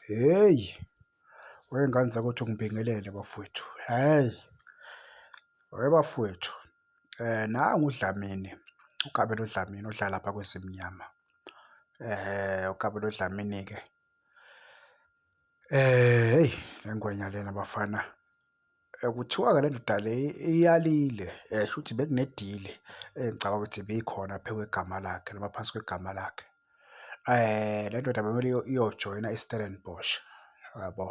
Hheyi, wey'ngane zakwethu ngibingelele bafwethu, hhayi. Weh bafwethu, nangu uDlamini, uKabelo Dlamini odlala lapha kweZimnyama. UKabelo Dlamini-ke, hheyi le ngwenya lena bafana. Kuthiwa-ke le ndoda le iyalile shuthi bekunedili engicabanga ukuthi ibikhona phezu kwegama lakhe noma phansi kwegama lakhe. Le ndoda bekumele iyojoyina iStellenbosch yabo,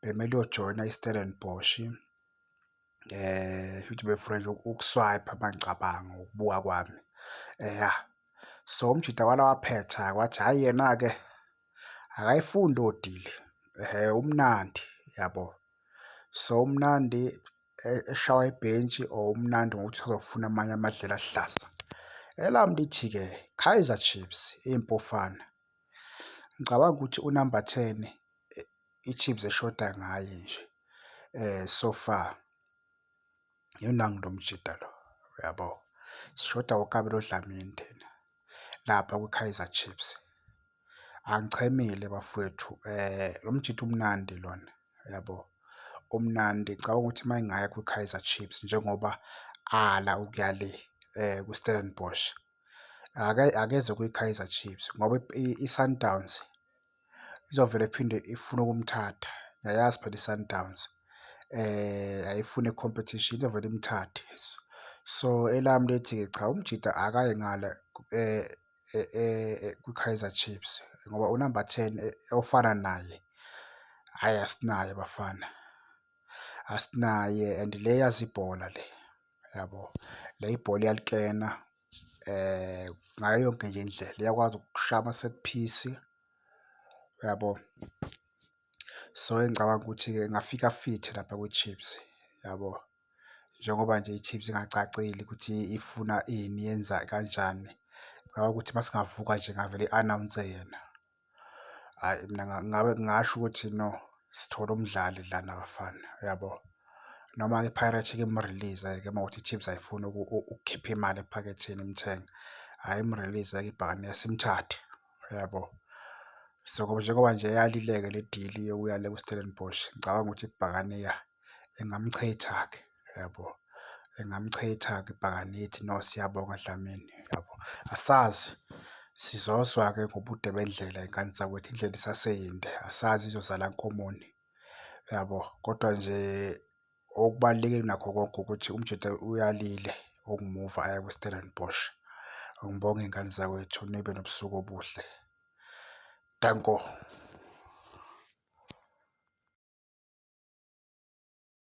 bekumele iyojoyina iStellenbosch shuthi befuna nje ukuswayipha uma ngicabanga ngokubuka kwami ya. So, umjita wala waphetha-ke wathi hhayi yena-ke. akayifundi odili umnandi yabo. So umnandi eshawa ibhentshi or umnandi ngokuthi uzofuna amanye amadlela aluhlaza. Elami lithi-ke Kaizer Chiefs iMpofana. Ngicabanga ukuthi unamba ten iChiefs eshoda ngaye nje so far. Yona ngilo mjita lo uyabo. Sishoda uKabelo Dlamini thina lapha kwiKaizer Chiefs. Angichemile bafowethu eh lo mjita umnandi lona uyabo. Umnandi ngicabanga ukuthi uma engaya kwiKaizer Chiefs njengoba ala ukuya le eh kwiStellenbosch akeze kwiKaizer Chiefs ngoba iSundowns. izovele iphinde ifune ukumthatha yayazi phela iSundowns eh ayifune competition izovele imthathe so elami lethi ke cha umjida akaye ngale eh, eh, eh kwiKaizer Chiefs ngoba unumber 10 eh, ofana naye hayi asinaye bafana asinaye and le yazi ibhola le yabo le ibhola iyalikena ngayo yonke nje indlela iyakwazi ukushaya ama-set piece yabo. So engicabanga ukuthi-ke ingafika fithi lapha kwiChiefs yabo, njengoba nje iChiefs ingacacile ukuthi ifuna ini yenza kanjani. Ngicabanga ukuthi uma singavuka nje ingavele i-anawunse yena. Hhayi mina ngabe ngingasho ukuthi no, sithole umdlali lana bafana, uyabo? Noma-ke iPirates ike imurilize-ke uma kuwukuthi iChiefs ayifuni ukukhipha imali ephaketheni imthenge, hhayi imurilize-ke ibhakane simthathe, uyabo? So, njengoba nje yalile-ke le dili yokuya le kuStellenbosch, ngicabanga ukuthi ibhakane, ya, ingamchitha-ke. yabo engamchitha ngibhakangithi no siyabonga Dlamini yabo asazi sizozwa-ke ngobude bendlela ingane zakwethu indlela isaseyinde asazi izozala nkomoni yabo kodwa nje okubalulekile nakho konke ukuthi umjita uyalile ukumuva aya kwi-Stellenbosch ngibonge ingane zakwethu nibe nobusuku obuhle danko